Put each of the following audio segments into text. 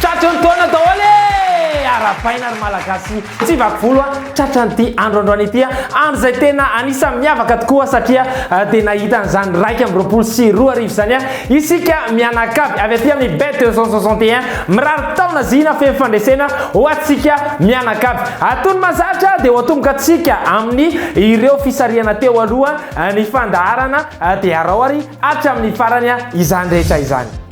Tratry ny taona daholo e! Arahabaina ry Malagasy tsy vaky volo a! Tratran'ity andro androany ity a! Andro izay tena anisan'ny miavaka tokoa satria dia nahita an'izany iraika amby roapolo sy roa arivo izany a! Isika mianakavy avy aty amin'ny Bet deux cent soixante et un mirary taona zina feno fandresena ho antsika mianakavy! Atony mazatra dia ho atomboka antsika amin'ny ireo fisarihana teo aloha ny fandaharana dia arao ary hatramin'ny farany izany rehetra izany!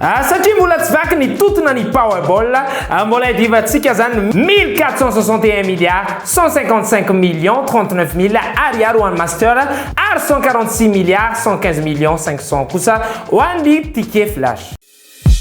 Ah, satria mbola tsy vaky ny totona ny Powerball, ah, mbola iadivantsika izany 1461 milliards 155 millions 39 mille ariary ho an'ny Master ary 146 milliards 115 millions 500 kosa ho an'ny Ticket Flash.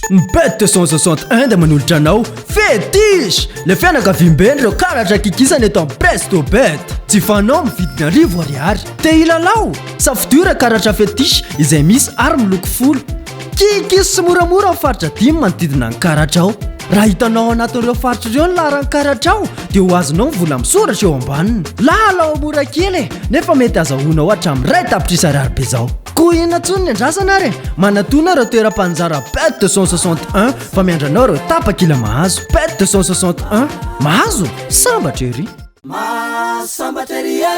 Mped 261 dia manolotra anao Fetish! Ilay fianakaviambe an'ireo karatra kikisana eto amin'ny Presto Bet. Jifanao amin'ny vidiny arivo ariary. Te hilalao? Safidio ireo karatra Fetish izay misy ary miloko folo. Kikis sy moramora ao faritra dimy manodidina an'i Karatra ao. Raha hitanao ao anatin'ireo faritra ireo ny laharan'i Karatra ao dia ho azonao ny vola misoratra eo ambaniny. Lalao mora kely e, nefa mety azahoanao hatramin'ny iray tapitrisa ariary be izao. Koa inona intsony ny andrasana ary e! Manatona ireo toeram-paninjara Bête 261 fa miandry anao ireo tapakila mahazo. Bête 261, mahazo? Sambatra ery! Mahasambatra ery e!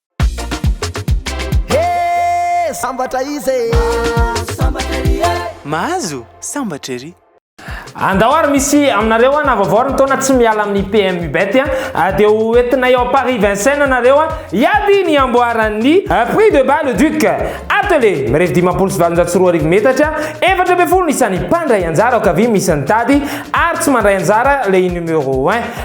Hee sambatra izy e. Mahazo sambatra ery e. Mahazo sambatra ery. Andao ary misy aminareo an vaovao ny taona tsy miala amin'ny PMU bet an ah, dia ho entinay ao Paris Vincennes nareo an hiady ny amboaran'ny ah, prix de bas le duc atele mirefy dimampolo sy valonjato sy roa arivo metatra efatra ambin'ny folo ny isan'ny mpandray anjara ao kavia misy ny tady ary tsy mandray anjara le numero 1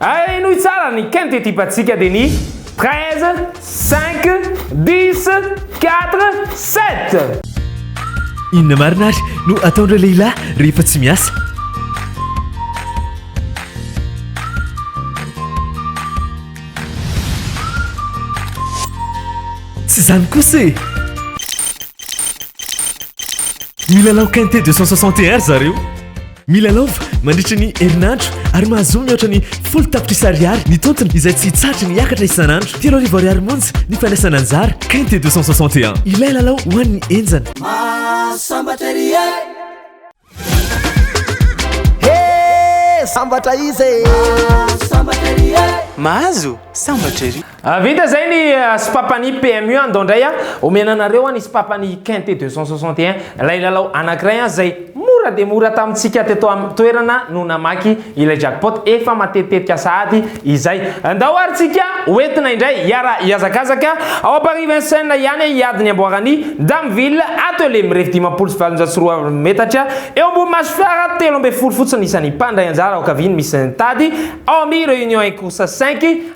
Ay henoy tsara ny quinte type antsika dia ny treize, cinq, dix, quatre, sept. Inona marina ary no ataon'ireo lehilahy rehefa tsy miasa? Tsy izany kosa e! Milalao quinte deux cent soixante et un ry zareo. Milalaova mandritra ny herinandro ary mahazoa mihoatra ny folo tapitrisa ariary ny tontony izay tsy hitsahatra ny hiakatra isan'andro. Telo arivo ariary monja ny fandraisana anjara, KT deux cent soixante et un. Ilay lalao ho an'ny henjana. Mahazo sambatra ery e! Hee! Sambatra iza e! Mahazo sambatra ery e! Mahazo sambatra ery! Ah, vita zay ny ah, sipapan'ny PMU an, dao ndray an, ah, omena anareo an ny sipapan'ny Quinte 261, ilay lalao anankiray an zay mora dia mora tamintsika teto amin'ny toerana no namaky ilay jackpot efa matetitetika sahady izay. Ndao ary tsika hoentina indray hiara hihazakazaka ao Paris Vincennes ihany hiady ny amboaran'ny Damville Atelier mirefy dimampolo sy valonjato sy roa arivo metatra eo ambony maso fiara telo ambin'ny folo fotsiny isan'ny mpandray anjara ao Kaviny misy ny tady ao amin'ny Réunion et Course 5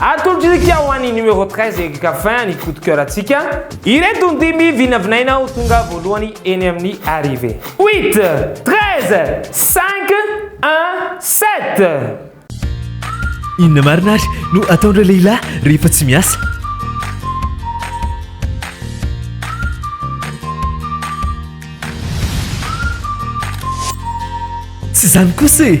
Atolotr'isika ho an'ny numéro treize Eric Caffin ny coup de coeur antsika. Ireto ny dimy vinavinaina ho tonga voalohany eny amin'ny arrivée. Huit, treize, cinq, un, sept. Inona marina ary no ataon'ireo lehilahy rehefa tsy miasa? Tsy izany kosa e!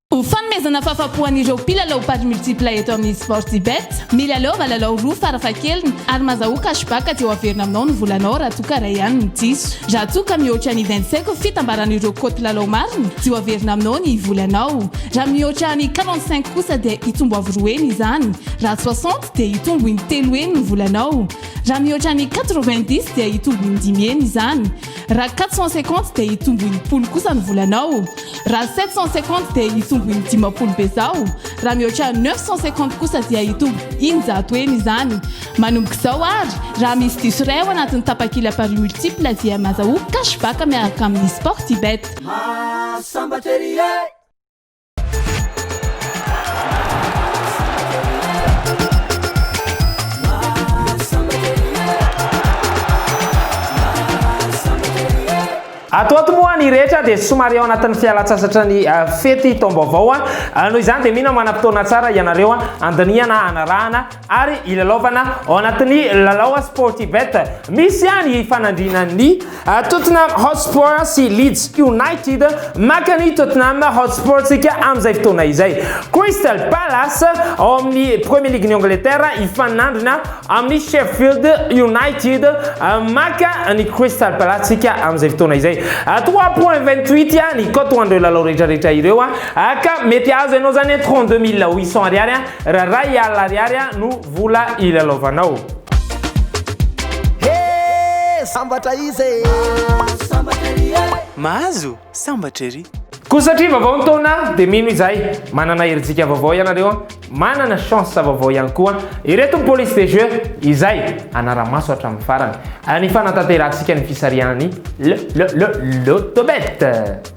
Ho fanomezana fahafapo an'ireo mpilalao paris multiple eto amin'ny Sportybet, milalaova lalao roa farafahakeliny ary mazahoa cashback dia ho averina aminao ny volanao raha toa ka iray ihany no diso. Raha toa ka mihoatra ny vingt cinq fitambaran'ireo cote lalao marina dia ho averina aminao ny volanao. Raha mihoatra ny quarante cinq kosa dia hitombo avo roa heny izany. Raha soixante dia hitombo in-telo heny ny volanao. Raha mihoatra ny quatre vingt dix dia hitombo in-dimy heny izany. Raha quatre cent cinquante dia hitombo enimpolo kosa ny volanao. Raha sept cent cinquante dia hitombo indimapolo bezao. Raha mihoatra neuf cent cinquante kosa dia hitombo eninjato heny izany. Manomboka izao ary, raha misy diso iray ao anatin'ny tapakila paris multiple dia mazahoa cash back miaraka amin'ny Sportybet. Maha sambatra ery e! Ato ato moa ny rehetra dia somary ao anatin'ny fialan-tsasatra ny ah, fety taom-baovao. Ah. Ah, noho izany dia mino manam-potoana tsara ianareo handinihana, hanarahana ary ilalaovana ao anatin'ny lalao Sportybet. Misy ihany hifanandrinany ny Tottenham Hotspur sy Leeds United. Maka ny Tottenham Hotspur tsika amin'izay fotoana izay. Crystal Palace ao amin'ny Premier League-n'i Angleterre hifanandrina amin'ny Sheffield United. Maka ny Crystal Palace tsika amin'izay fotoana izay. Trois point vingt huit ny cote ho an'ireo lalao rehetra rehetra ireo ka mety azo ianao izany trente deux mille huit cents ariary. Raha iray alina ariary no vola ilalaovanao. He! Sambatra izy e! Sambatra ery e! Mahazo? Sambatra ery! Koa satria vaovao ny taona dia mino izahay, manana herijika vaovao ianareo an, manana chance vaovao ihany koa ireto ny police des jeux izay hanara-maso hatramin'ny farany ny fanatanterahantsika ny fisarihanan'ny le le le lotobet.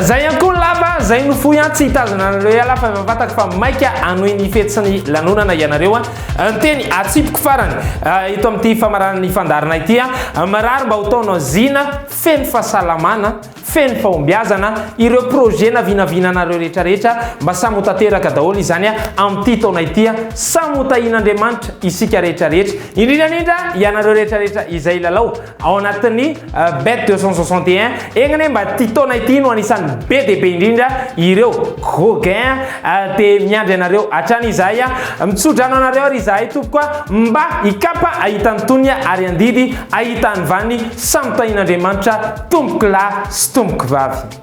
Zay ihany koa ny lava, zay no fohy an, tsy hitazona anareo ialahy fa efa fantako fa maika hanohy ny fety sy ny lanonana ianareo an. Ny teny atsipiko farany eto amin'ity famaranana ny fandaharana ity an, mirary mba ho taona zina feno fahasalamana, feno fahombiazana, ireo projet na vinavinanareo rehetra rehetra mba samy ho tanteraka daholo izany an, amin'ity taona ity an, samy ho tahian'Andriamanitra isika rehetra rehetra, indrindra indrindra ianareo rehetra rehetra izay hilalao. Ao anatin'ny Bet deux cent soixante et un, egna anie mba ity taona ity no anisan'ny be dia be indrindra ireo gros gain dia miandry anareo hatrany izahay mitsodrano anareo ary izahay tompoko a mba hikapa ahita ny tonony ary handidy ahita ny vaniny samy tahian'Andriamanitra tompokolahy sy tompokovavy.